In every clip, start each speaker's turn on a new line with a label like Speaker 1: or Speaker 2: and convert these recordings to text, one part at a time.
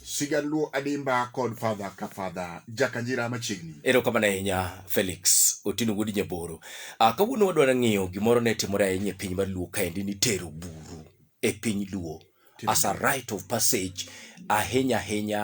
Speaker 1: Sigaluo Adimba kod Father ka Father Jakanjira machiegni. Erokamano ahinya Felix Otieno Wuod Nyaboro. Ah, kawuono wadwaro ng'iyo gimoro ne timore ahinya e piny mar Luo kaendi ni tero buru e piny Luo. as a rite of passage ahinya ahinya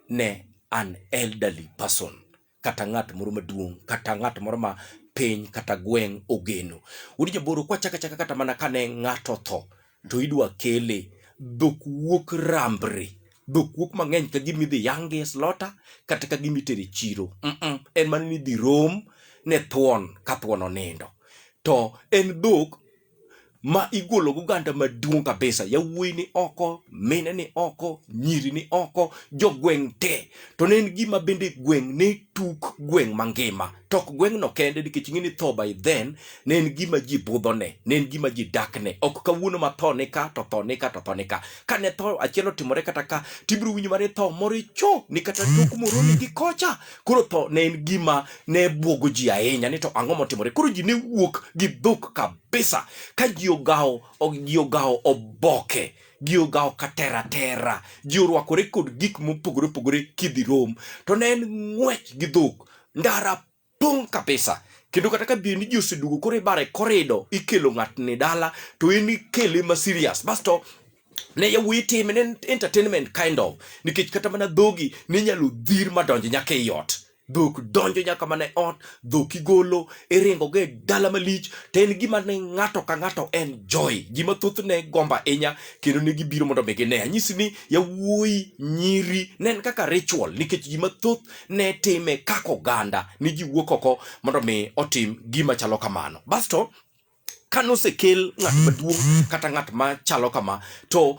Speaker 1: ne an elderly person kata ng'at moro maduong' kata ng'at moro ma piny kata gweng' ogeno. Wuod jaboro kwachaka chaka kata mana kane ng'ato otho to idwa kele dhok wuok rambre dhok wuok mang'eny ka gima idhi yange slota kata ka gima itere chiro mm -mm. en mana ni idhi rom ne thuon ka thuon onindo to en dhok ma igolo go oganda maduong' kabisa yawuoyi ni oko mine ni oko nyiri ni oko jogweng' te to ne en gima bende gweng' ne tuk gweng' mangima to ok gweng'no kende nikech ing'e ni tho by then ne en gima ji budhone ne en gima ji dakne ok kawuono ma tho ni ka to tho ni ka to tho ni ka ka ne tho achiel otimore kata ka tibiro winjo mare tho moro icho ni kata tok moroni gi kocha Koro tho ne en gima ne bwogo ji ahinya ni to ang'o motimore. Koro ji ne wuok gi dhok kabisa ka ji ogawo ji ogawo oboke ji ogawo katera tera ji orwakore kod gik mopogore opogore kidhi rom to ne en ng'wech gi dhok ndara pong' kabisa kendo kata ka bedi ni ji osedugo koro ibare korido ikelo ng'atni dala to en ikele ma serious basto ne yawuoyi time ne entertainment kind of nikech kata mana dhogi ne inyalo dhir madonjo nyaka ei ot dhok donjo nyaka mana e ot dhok igolo iringogo e dala malich to en gima ne ng'ato ka ng'ato en joy ji mathoth ne gomba inya kendo ne gibiro mondo mi gine anyisi ni yawuoyi nyiri ne en kaka ritual nikech ji mathoth ne time kaka oganda ni ji wuok oko mondo mi otim gima chalo kamano basto ka nosekel ng'at maduong' kata ng'at ma chalo kama to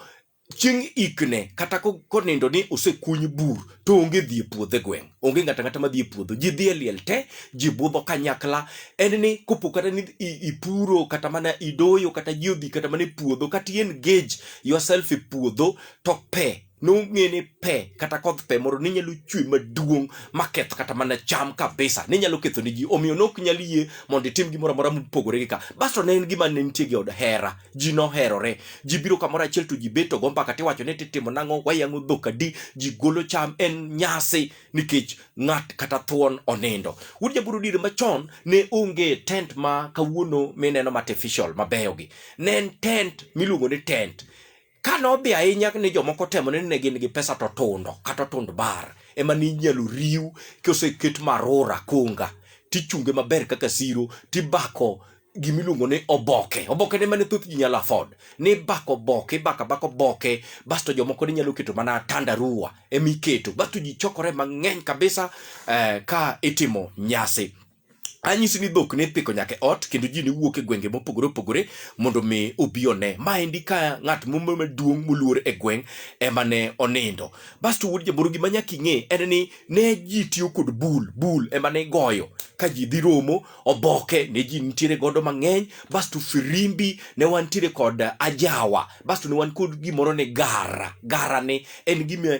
Speaker 1: chieng' ikne kata ko- konindo ni osekuny bur to onge dhi e puodho e gweng' onge ng'ata ng'ata madhi e puodho ji dhi e liel te ji budho kanyakla en ni kopo kata ni i- ipuro kata mana idoyo kata ji odhi kata mana e puodho kata in gage yourself e puodho to pe nong'e ni pe kata koth pe moro ne nyalo chwe maduong' maketh kata mana cham kabisa ne nyalo ketho ne ji omiyo nok nyal yie mondo itim gimoro amora mopogore gi ka basto ne en gima ne nitie gi od hera ji noherore ji biro kamoro achiel to ji beto go mbaka tiwacho ni titimo nang'o wayang'o dhok adi ji golo cham en nyasi nikech ng'at kata thuon onindo wuod jaburu dire machon ne onge tent ma kawuono mineno ma artificial mabeyogi ne en tent miluongo ni tent Ka nodhi ahinya ni jomoko temo ni ne gin gi pesa to tundo kata tund bar ema ni inyalo riw koseket marora kunga tichunge maber kaka siro tibako gimiluongo ni oboke oboke ne mane thoth ji nyalo afford ni bako oboke ibako abaka oboke basto jomoko ne nyalo keto mana tandarua ema iketo basto ji chokore mang'eny kabisa eh, ka itimo nyasi anyisi ni dhok ne ipiko nyaka e ot kendo ji ne wuok e gwenge mopogore opogore mondo mi obi one ma endi ka ng'at mumbe maduong' moluor e gweng' ema ne onindo basto wuod jaboro gima nyaka ing'e en ni ne ji tiyo kod bul bul ema ne igoyo ka ji dhi romo oboke ne ji nitiere godo mang'eny basto firimbi ne wantiere kod ajawa basto ne wan kod gimoro ni gara gara ni en gima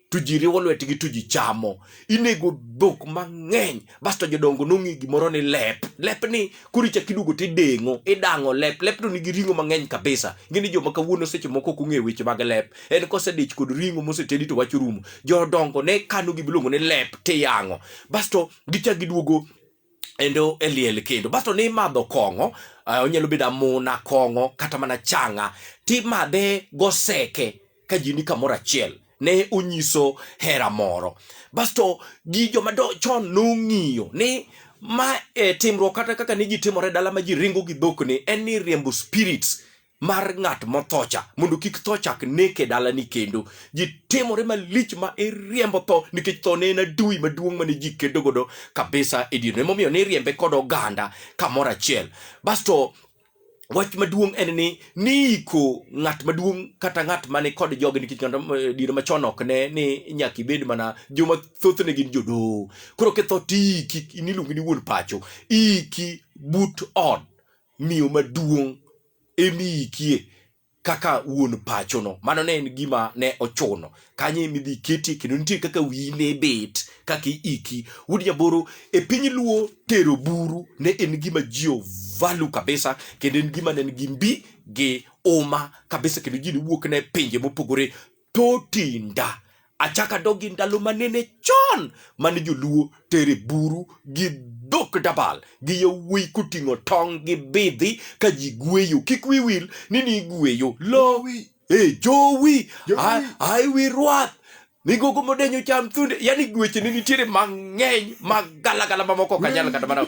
Speaker 1: to ji riwo lwetgi to ji chamo inego dhok mang'eny basto jodongo nong'e gimoro ni lep lep ni koro ichak iduogo to ideng'o idang'o lep lep to nigi ring'o mang'eny kabisa ing'e ni joma kawuono seche moko ok ong'e weche mag lep en kosedich kod ring'o mosetedi to wach orumo jodongo ne kano gimiluongo ni lep tiyang'o basto gichak giduogo endo e liel kendo basto ni imadho kong'o uh, onyalo bedo amuna kong'o kata mana changa timadhe goseke ka ji ni kamoro achiel ne onyiso hera moro basto gi joma do- chon nong'iyo ni ma e, timruok kata kaka ne ji timore dala ma ji ringo gi dhokni en ni riembo spirits mar ng'at mothocha mondo kik tho chak neke dalani kendo ji timore malich ma iriembo tho nikech tho ne en adui maduong' mane ji kedo godo kabisa e dierno emomiyo ne iriembe kod oganda kamoro achiel basto wach maduong' en ni niiko ng'at maduong' kata ng'at mane kod joge nikech ng'at ma- eh, diere machon ok ne ni nyaka ibed mana joma thothne gin jodoho koro kitho tiiki niluongi ni wuon pacho iki but ot miyo maduong' emiikie kaka wuon pachono. Mano ne en gima ne ochuno. Kanyo ema idhi ketie kendo nitie kaka wiyi ne bet kaka iiki. Wuod Nyaboro, e piny Luo tero buru ne en gima ji ovalu kabisa kendo en gima ne nigi mbi gi uma kabisa kendo ji ne wuok ne pinje mopogore to tinda achaka dogi ndalo manene chon mane joluo tere buru gi dhok dabal gi yawuoyi koting'o tong' gi bidhi ka ji gweyo kik wiwil ni ni igweyo lowi e jowi ai wi rwath migogo modenyo cham thunde yani gweche ne nitiere mang'eny magalagala mamoko kanyal kata mana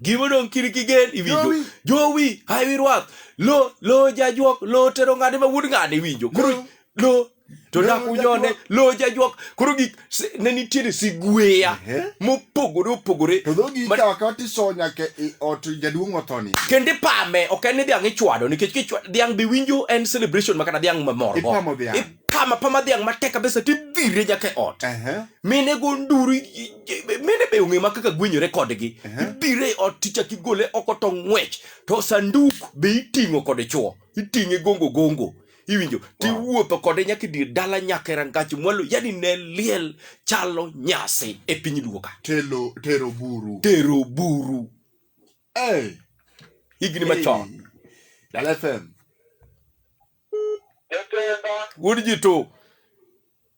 Speaker 1: Gima odong' kiri kigen iwinjo. Jowi. Jowi, hawi rwath. Lo, lo jajuok, lo tero ng'ade ma wuod ng'ade iwinjo. Koro Lo. lo to Lo dak unyone, jajuok. lo jajuok. Koro gik si- ne nitiere sigweya Ehe. mopogore opogore. To dhogi Ma- ikawo akawa tisoyo nyaka e ot jaduong' othoni. kendo ipame ok en ni dhiang' ichwado nikech kichwa- dhiang' be winjo en celebration ma kata dhiang' mamorgo Ipamo dhiang'. ipama pama dhiang' matek kabisa tidhire nyaka e ot Ehe. mine go nduru i- mene be ong'e ma kaka gwenyore kodgi ibire ot tichak igole oko to ng'wech to sanduk be iting'o kode chuo iting'e gongo gongo iwinjo tiwuotho kode nyaka dir dala nyaka e rangach mwalo yani ne liel chalo nyasi e piny luo ka telo tero buru tero buru hey. higni machon dala fm wuod ji to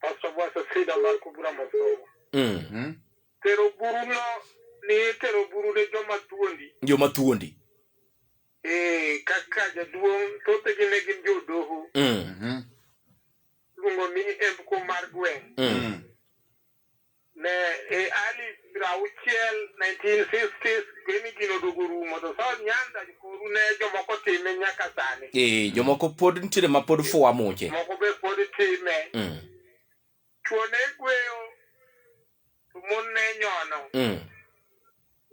Speaker 1: Pastor Bwasa Sida mar Kubura Mosogo. Mm. Mm. Tero buru no ni tero buru ne joma tuondi. Joma tuondi. Eh, kaka jaduong' thote gi ne gin jodoho. Mm. Mhm. Luongo ni Emko mar Gweng'. Mm. Mm. ne e early piero auchiel 1950s kweni gino oduogo rumo to South Nyanza koru ne jomoko time nyaka sani Eh, jomoko pod nitiere ma pod fuwa muche. moko be pod time Mm. chuo ne gweyo to mon ne nyono Mm.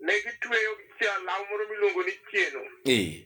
Speaker 1: ne gitweyo gichiel law moro miluongo ni chieno Eh.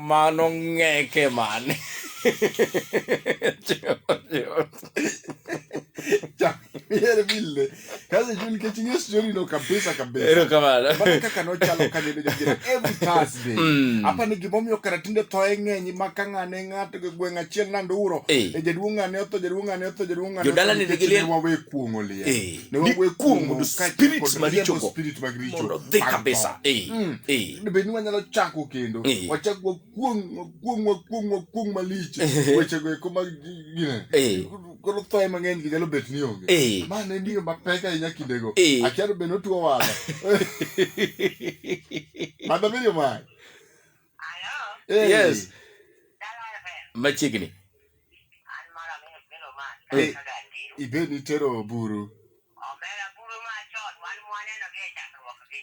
Speaker 1: Mano ng'eke mane? Yere bille. Kazi juu nikech ing'e story no kabisa kabisa. Ero kamano. Mana kaka nochalo ka nene jabiro every Thursday. Mm. Apa ni gimomiyo kara tinde thoe ng'eny ma ka ng'ane ng'ato gi gweng' achiel nando uro. Eh. E jaduong' ng'ane otho, jaduong' ng'ane otho, jaduong' ng'ane otho. Jodala ni nikech nigi liel. ne Wawe kuong'o liel. Eh. Ne ni wawuoyo kuom kuom mondo kaachiel spirits kod riembo marichogo spirit mag richo mondo dhi mag kabisa tho. Eh, Mm. eh. Ne bed ni wanyalo chako kendo Eh. wachak wakuong wakuong wakuong wakuong malich Eh. wechego eko mag gine Eh. koro thoye mang'eny gi nyalo bet ni onge Eh. ma ne miyo mapek ahinya kindego Eh. achano bed notuo wada madabiriyo mae yes machiegni ibe nitero buru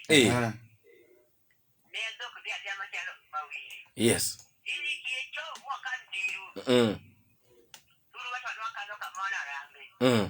Speaker 1: Eh. Ah. yes Mm. Mm.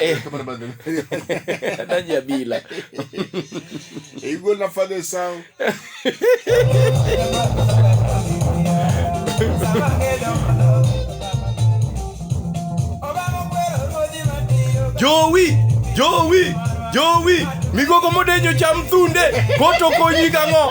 Speaker 1: Eh. Nadia Bila. Et Hugo n'a pas de sang. Joey, Joey, Joey, migogo modenyo cham thunde, koto konyi gang'o?